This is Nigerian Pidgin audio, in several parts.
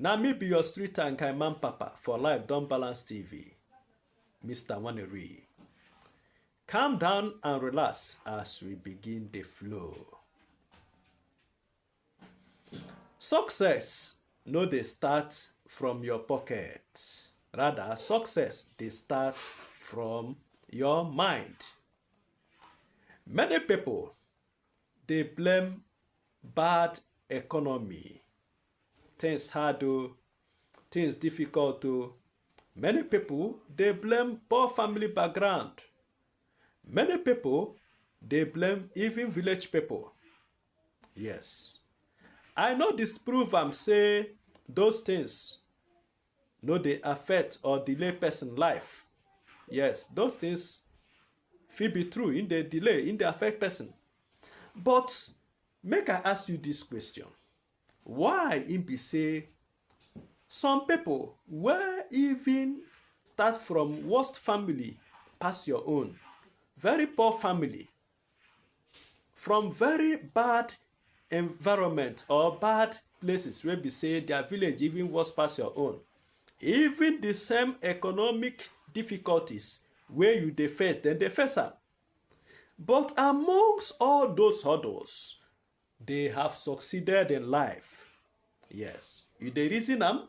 Na me be your street and kind man papa for life don balance TV, Mr. Waneri. Calm down and relax as we begin the flow. Success no dey start from your pocket. Rather, success dey start from your mind. Many people Dey blame bad economy. Things hard o, things difficult o. Many people dey blame poor family background. Many people dey blame even village people. Yes. I no disprove am say those things no dey affect or delay person life. Yes, those things fit be true, in dey delay, in dey affect person. But make I ask you this question. Why im be say some people wey even start from worst family pass your own, very poor family, from very bad environment or bad places wey be say their village even worse pass your own even the same economic difficulties wey you dey face dem dey face am but amongst all those hurdles they have succeeded in life yes you dey reason am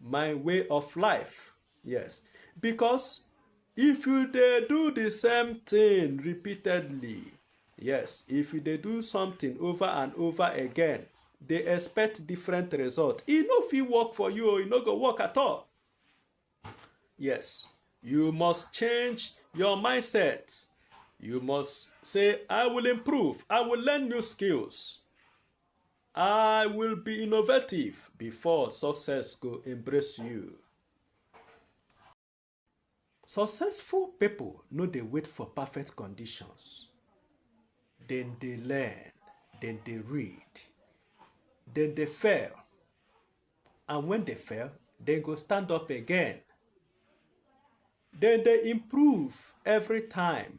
my way of life yes because if you dey do the same thing repeatedly yes if you dey do something over and over again dey expect different result e no fit work for you e no go work at all yes you must change your mindset you must say i will improve i will learn new skills I will be innovative before success go embrace you. Successful people no dey wait for perfect conditions. Dem dey learn, dem dey read, dem dey fail. And when they fail, dem go stand up again. Dem dey improve every time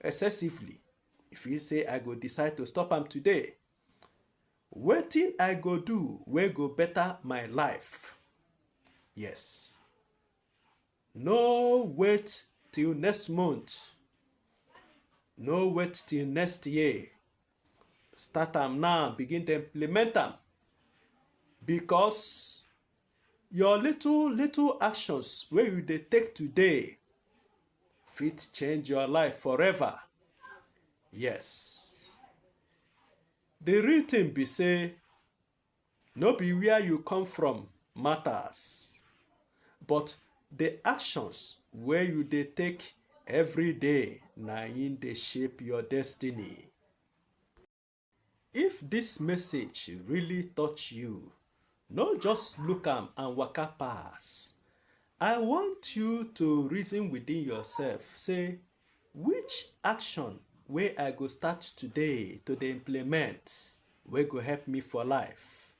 excessively e feel say i go decide to stop am today wetin i go do wey go better my life yes no wait till next month no wait till next year Start am now, begin to implement am. Because your little, little actions wey you dey take today fit change your life forever. Yes. The real thing be say No be where you come from matters, but the actions wey you dey take every day na im dey shape your destiny. If this message really touch you, no just look am and waka pass. I want you to reason within yourself say Which action wey I go start today to dey implement wey go help me for life?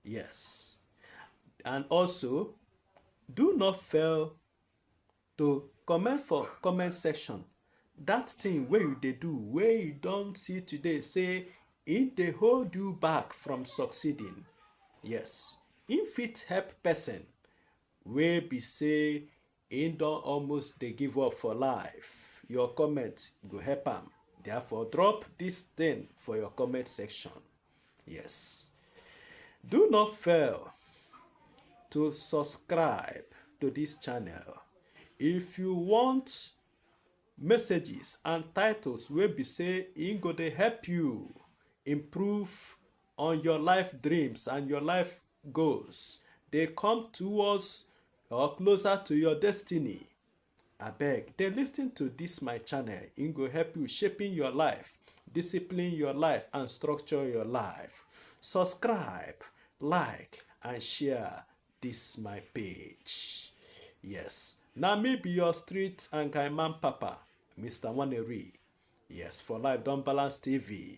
Yes. And also, do not fail to comment for comment section that thing wey you dey do wey you don see today say e dey hold you back from succeeding yes e fit help person wey be say Im don almost dey give up for life, your comment go help am therefore drop this thing for your comment section. Yes. Do not fail to subscribe to this channel if you want messages and titles wey be say e go dey help you improve on your life dreams and your life goals dey come towards or closer to your destiny. Abeg, dey listen to this my channel. It go help you shaping your life, discipline your life, and structure your life. Subscribe, like, and share this my page. Yes, now me be your street and guy man papa, Mr. Waneri. Yes, for life don't balance TV.